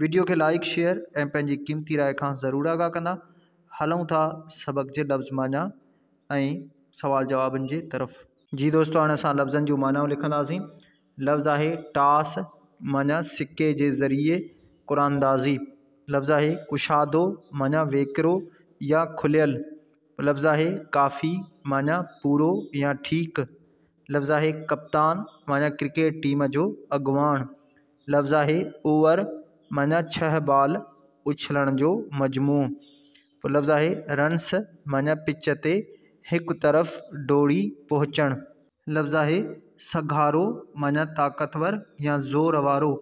Video کي like share ۽ پنهنجي قيمتي راء کان ضرور آگاهه ڪندا. هلون ٿا سبق جي لفظ معنيٰ ۽ سوال جوابن جي طرف. جي دوستو هاڻي اسان لفظن جون معنائون لکنداسين. لفظ آهي ٽاس معنيٰ سڪي جي ذريعي قراندازي. لفظ آهي ڪشادو معنيٰ ويڪرو يا کليل. لفظ آهي ڪافي معنيٰ پورو يا ٺيڪ. لفظ آهي ڪپتان معنيٰ ڪرڪيٽ ٽيم جو اڳواڻ. لفظ آهي اوور معنيٰ ڇهه بال اڇلڻ جو مجموعو پوء لفظ آهي رنس معنيٰ پچ تي هڪ طرف ڊوڙي پهچڻ. لفظ آهي سگهارو معنيٰ طاقتور يا زور وارو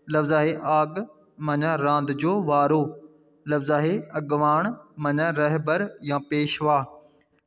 لفظ آهي آڳ معنيٰ راند جو وارو لفظ آهي اڳواڻ معنيٰ رهبر يا پيشوا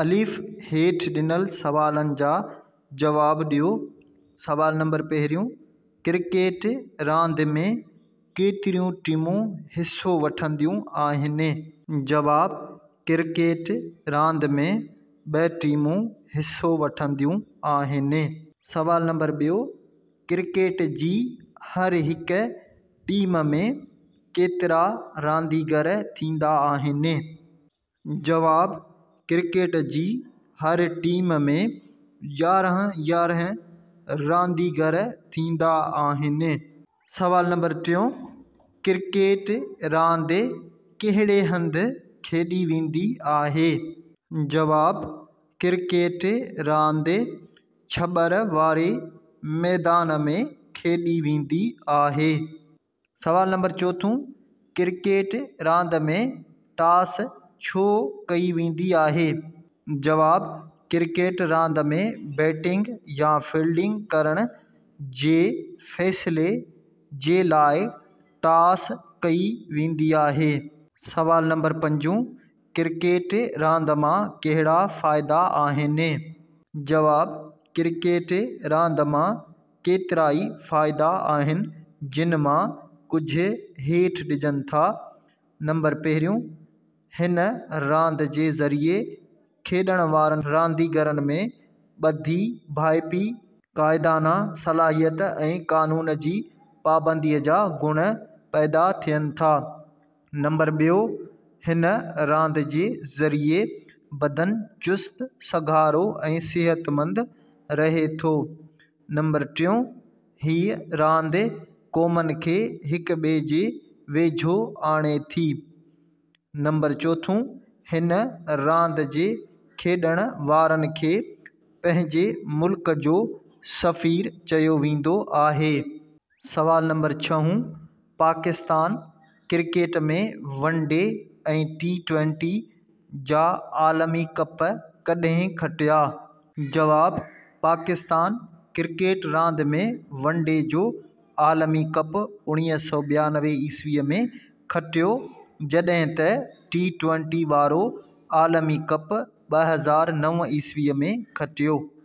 الف، هيٺ ڏنل سوالن جا جواب ڏيو. سوال نمبر پهريون، ڪرڪيٽ راند ۾ ڪيتريون ٽيمون حصو وٺنديون آهن؟ جواب، ڪرڪيٽ راند ۾ ٻه ٽيمون حصو وٺنديون آهن. سوال نمبر ٻيو، ڪرڪيٽ جي هر هڪ ٽيم ۾ ڪيترا رانديگر ٿيندا آهن؟ جواب، ڪرڪيٽ جي هر ٽيم ۾ يارهن يارهن رانديگر ٿيندا آهن. سوال نمبر ٽيون، ڪرڪيٽ راند ڪهڙي هنڌ کيڏي ويندي آهي؟ جواب، ڪرڪيٽ راند ڇٻر واري ميدان ۾ کيڏي ويندي آهي. سوال نمبر چوٿون، ڪرڪيٽ راند ۾ ٽاس ڇو ڪئي ويندي آهي؟ جواب، ڪرڪيٽ راند ۾ بيٽنگ يا فيلڊنگ ڪرڻ جي فيصلي جي لاء ٽاس ڪئي ويندي آهي. سوال نمبر پنجون، ڪرڪيٽ راند مان ڪهڙا فائدا آهن؟ جواب، ڪرڪيٽ راند مان ڪيترائي فائدا آهن جن مان ڪجهه هيٺ ڏجن ٿا. نمبر پهريون، هن راند جي ذريعي کيڏڻ وارن رانديگرن ۾ ٻڌي، ڀائپي، قائدانه صلاحيت ۽ قانون جي پابنديء جا گڻ پيدا ٿين ٿا. نمبر ٻيو، هن راند جي ذريعي بدن چست، سگهارو ۽ صحتمند رهي ٿو. نمبر ٽيون، هيء راند قومن کي هڪ ٻئي جي ويجهو آڻي ٿي. نمبر چوٿون، هن راند جي کيڏڻ وارن کي پنهنجي ملڪ جو سفير چيو ويندو آهي. سوال نمبر ڇهون، Pakistan cricket ۾ one day ۽ T twenty جا عالمي ڪپ ڪڏهن کٽيا؟ جواب، پاڪستان ڪرڪيٽ راند ۾ ون ڊي جو عالمي ڪپ اوڻيهه سؤ ٻيانوي عيسويء ۾ کٽيو جڏهن ته ٽي ٽوئنٽي وارو عالمي ڪپ ٻه هزار نو عيسويء ۾ کٽيو.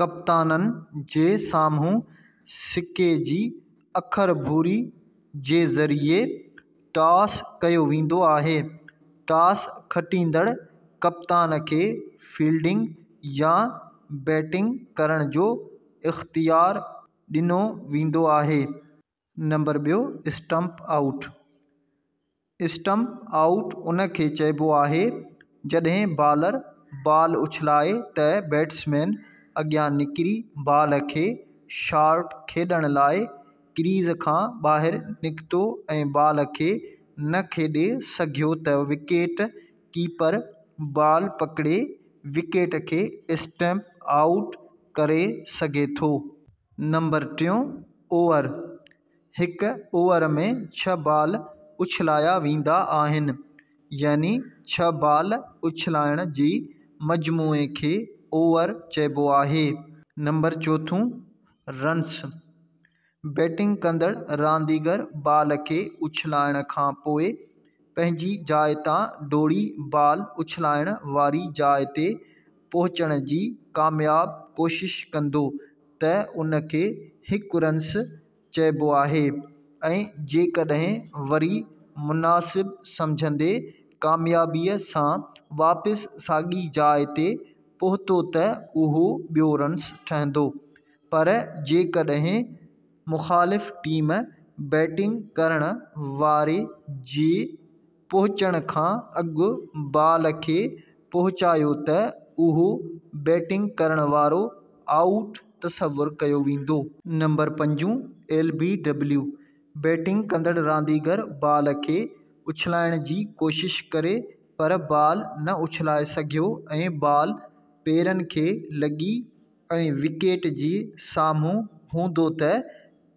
ڪپتانن جي سامهون سڪي جي اکر ڀوري جي ذريعي ٽاس ڪيو ويندو آهي. ٽاس کٽيندڙ ڪپتان کي فيلڊنگ يا بيٽنگ ڪرڻ جو اختيار ڏنو ويندو آهي. نمبر ٻيو، اسٽمپ آئوٽ، اسٽمپ آئوٽ ان کي چئبو آهي جڏهن بالر بال اڇلائي ته بيٽسمين اڳيان نڪري بال کي شارٽ کيڏڻ لاء ڪريز کان ٻاهر نڪتو ۽ بال کي نه کيڏي سگهيو ته وڪيٽ ڪيپر بال پڪڙي وڪيٽ کي اسٽمپ آئوٽ ڪري سگهي ٿو. نمبر ٽيون اوور، هڪ اوور ۾ ڇهه بال اڇلايا ويندا آهن يعني ڇهه بال اڇلائڻ جي مجموعي کي اوور چئبو آهي. نمبر چوٿون رنس، بيٽنگ ڪندڙ رانديگر بال کي اڇلائڻ کان پوء پنهنجي جاء تان ڊوڙي بال اڇلائڻ واري جاء تي پهچڻ جي ڪامياب ڪوشش ڪندو ته ان کي هڪ رنس چئبو آهي ۽ جيڪڏهن وري مناسب سمجهندي ڪاميابيء سان واپس ساڳي جاء تي پهتو ته اهو ٻيو رنس ٺهندو پر جيڪڏهن مخالف ٽيم بيٽنگ ڪرڻ واري جي پهچڻ کان اڳ بال کي پهچايو ته اهو بيٽنگ ڪرڻ وارو آئوٽ تصور ڪيو ويندو. نمبر پنجون، ايل بي ڊبليو، بيٽنگ ڪندڙ رانديگر بال کي اڇلائڻ جي ڪوشش ڪري پر بال نه اڇلائي سگهيو ۽ بال پيرن کي لڳي ۽ وڪيٽ جي سامهون هوندو ته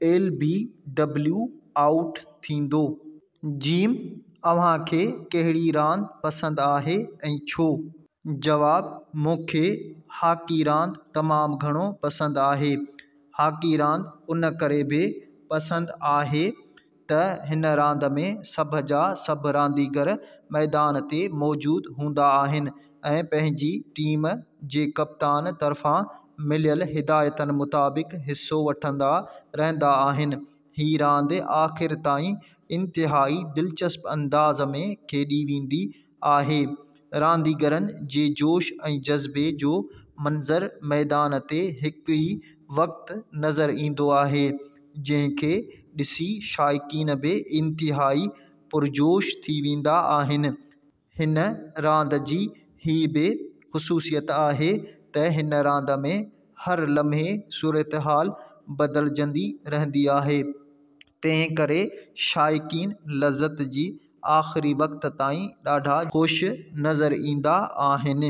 ايل بي ڊبليو آئوٽ ٿيندو. جيم، اوهان کي ڪهڙي راند پسند آهي ۽ ڇو؟ جواب، مون کي هاڪي راند تمام گهڻو پسند آهي. هاڪي راند ان ڪري به پسند آهي ته هن راند ۾ سڀ جا سڀ رانديگر ميدان تي موجود هوندا آهن ۽ پنهنجي ٽيم جي ڪپتان طرفان مليل هدايتن مطابق حصو وٺندا رهندا آهن هي راند آخر تائين انتهائي دلچسپ انداز ۾ کيڏي ويندي آهي. رانديگرن جي جوش ۽ جذبي جو منظر ميدان تي هڪ ئي وقت نظر ايندو آهي، جنهن کي ڏسي شائقين به انتهائي پرجوش ٿي ويندا آهن. هن راند جي هي به خصوصيت آهي ته هن راند ۾ هر لمحي صورتحال بدلجندي رهندي آهي. تنهن ڪري شائقين لذت جي آخري وقت تائين ڏاڍا خوش نظر ايندا آهن.